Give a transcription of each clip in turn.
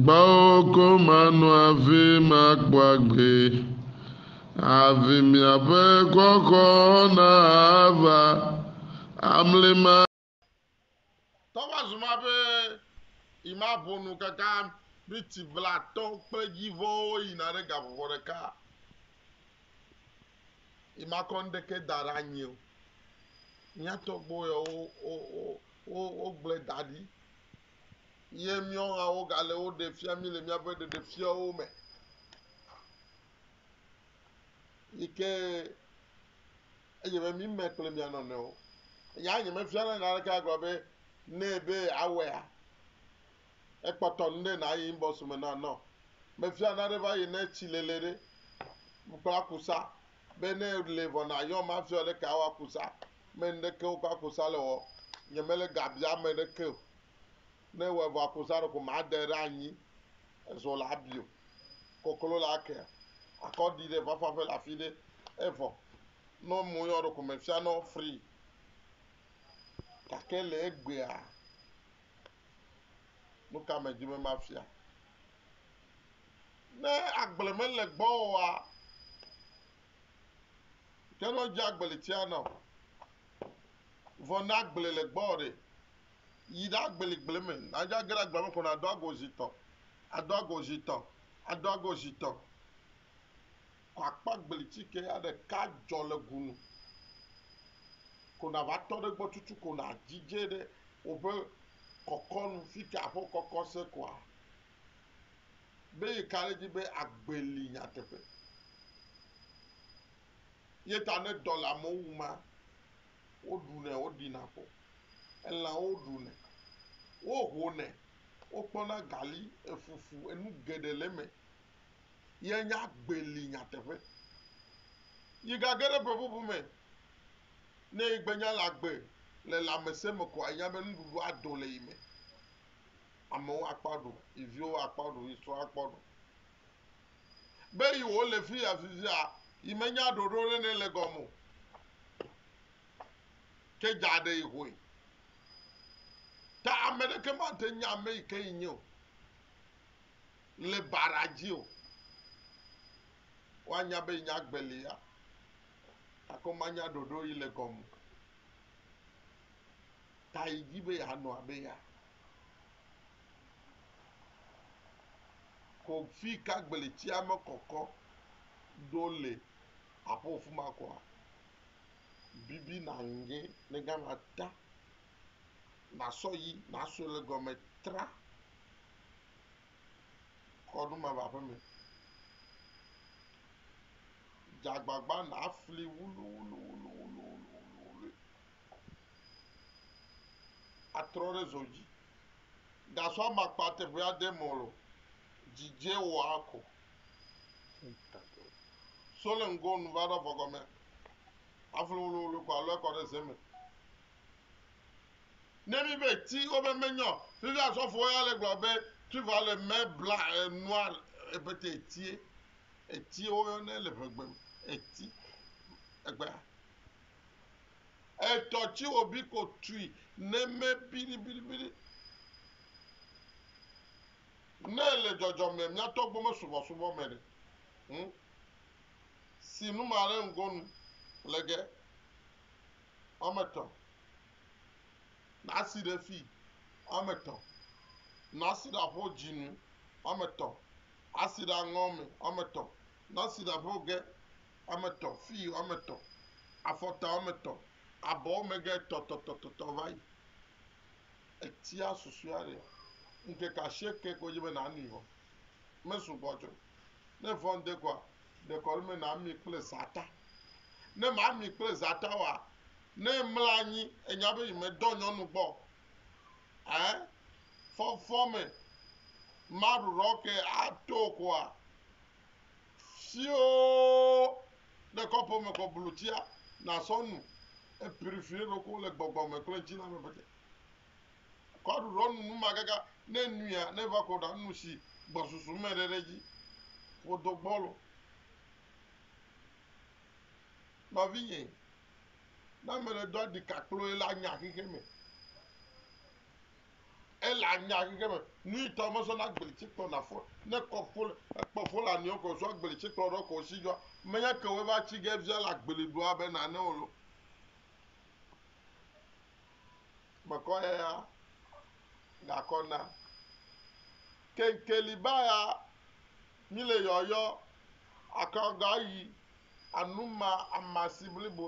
Gbɔwò ko mano hafi makpɔ agbe, Hafi miaƒe xɔxɔ nava amli ma. Tɔ va zu ma ƒe yi ma ƒo nu kaka miti blatɔ kple dzivɔwo yina ɖe gavɔvɔ ɖeka yi ma kɔ ŋdeke da ɖe anyi o. Mía tɔgbuiwo wo wo wo wo gblɔe da ɖi ye míawo hã wogale wo ɖe fia mí le míaƒe ɖeɖefiawo me. Yi ke edze be mí me kple mía nɔnɔewo. Nya nyemefia ne naneke agblɔ be nɛ be awɔea, ekpɔtɔ nu ɖe nàyi inbox me na nɔ. Mefia nane va yi ne tsilele ɖe kpla kusa Be ne le vɔ nayɔm mafiɔ ɖe ka wa kusa me ŋɖeke wo kpa kusa le wɔ nye me le ga bia me ɖeke o ne wɔ vɔ akusa ɖeko ma de ɖe anyi ezo la bio koklo la ke akɔ ɖi ɖe vafa ƒe la fi ɖe evɔ nɔ mo yɔ ɖeko me fia nɔ free gake le egbea nuka me dzi me mafia Ne agble mele gbɔ oa, teno dze agbeli tia nɔ. Vɔ ne agble le gbɔ ɖe, yi ɖa gbeli gble me. Nadze age ɖe agble me ko nado ago zi tɔ, ado ago zi tɔ, ado ago zi tɔ. Ko akpɔ agbeli ti ke ya ɖeka dzɔ le gu nu. Ko nava tɔ ɖe gbɔ tutu ko nadzi dze ɖe woƒe kɔkɔ nu. Fike aƒe kɔkɔ se koa, be yi ka ɖe edzi be agbe li nyateƒe. Ye ta ne dɔ le amewo wum ma, woɖunɛ, woɖina ƒo, elãwo ɖunɛ, wohonɛ, wokpɔna gali, efufu, enu geɖe le eme. Ye nye agbe li nyateƒe. Yi gage ɖe ƒe ƒuƒu me, ne yi gbe nya le agbe le lãmesẽ me koa, yi nya be nuɖuɖu ado le yi me. Amewo akpɔ aɖu, yi viwo akpɔ aɖu, yi srɔ̃ akpɔ aɖu. Be yi wò le fiya fifia, yi me nya ɖoɖo ɖe ne le gɔme o. Ke dza ɖe yi hoe. Ta ame ɖeke ma te nya ame yi ke yi nye o. Le ba ɖa dzi o. Wa nya be yi nya agbe li ya. Gake wo ma nya ɖoɖo yi le gɔme o. tae di be yeanɔ abe ya. Ko fika gblẽtsia mekɔkɔ ɖo le aƒo fima koa, bibi naŋge le gama ta nasɔ yi naso le gɔme tra kɔ ɖo mava ƒe me. Dzagbagba nafli wuluwuluwuluwuluwului. atrɔ ɖe zɔ dzi. Gasɔ amakpa teƒe aɖe me ɔ, dzidze wɔ akɔ. So le ŋgɔ nu va ɖo avɔ gɔme aflu wluwlu kɔ alɔ ekɔ ɖe ze me. Ne mi be ti wobe menyɔ, fifi asɔfo ya le gblɔ be tu va le mɛ bla enua ebete etie. Etie woyɔ ne le ʋegbe me eti egbea. Etɔ tsi wo bi ko tui ne me biɖibiɖibiɖi. Ne le dzɔdzɔ me mia tɔ gbɔ me subɔ subɔ me ɖe. Hm. Si nu ma ɖe ŋgo nu le ge. Ame tɔ. Na si ɖe fi. Ame tɔ. Na si ɖa ƒo dzi nu. Ame tɔ. Asi ɖa ŋɔ me. Ame tɔ. Na si ɖa ƒo ge. woame etɔ̃, fii woame etɔ̃, afɔta woame etɔ̃, abɔ wo megɛ tɔtɔtɔtɔtɔ va yi. Etia susɔea ɖe, ŋkeke ashieke ko dzi be nànui vɔ. Mesu gbɔ tsɛ o. Ne vɔ ŋde koa, ɖekɔ wole be nàmi kple zãta. Ne màmi kple zãta oa, ne emla anyi enya be yemedɔ nyɔnu gbɔ o, ɛ, fɔfɔ me maɖuɖɔ ke ato koa, Siwo ɖe kɔpo me kɔ blu tsia nasɔ nu epiɖi fi eɖokui le gbɔgbɔ me kple ŋtsi la me ƒete. Kɔ aɖuɖɔ nu numagagã ne enuia ne va kɔ ɖa nu si gbɔsusu me ɖe ɖe dzi. Ƒo do gbɔlo. Nɔvinye, ne ame ɖe do aɖi kakploe la nya xexe me. Ele anya ɣi ɖe me. Nui tɔ me zɔna gbli tsi kplɔ na fɔ ne kɔ fo le ekpɔ fo le aniɔ kɔ zua gbli tsi kplɔ ɖɔ kɔ si jɔ me nya ke we va tsi ge via la gbli ɖoa be na ne olo me kɔ ya ya ga kɔ na kenkeli ba ya mi le yɔ yɔ akɔ ga yi anu ma amasi blibo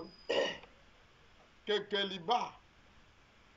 kenkeli ba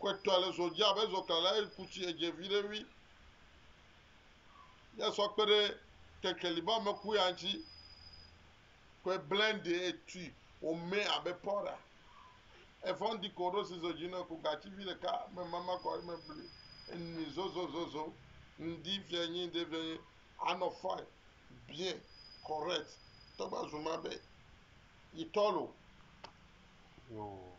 Kɔetɔa le zɔ dzi abe zɔklala eye ku tsi edze viɖe ŋui. Ye sɔ kpe ɖe kekeli be ame ku ya ŋtsi. Kɔe blende etui wòme abe powder. Efɔ ŋdi ko ɖo si zɔ dzi nɔ ku gatsi vi ɖeka me mama kɔ eme bli enui zozozozo ŋdi fia nyi ŋde fia nyi anɔ fine bien correct tɔgba zuma be yitɔ lo. Yoo.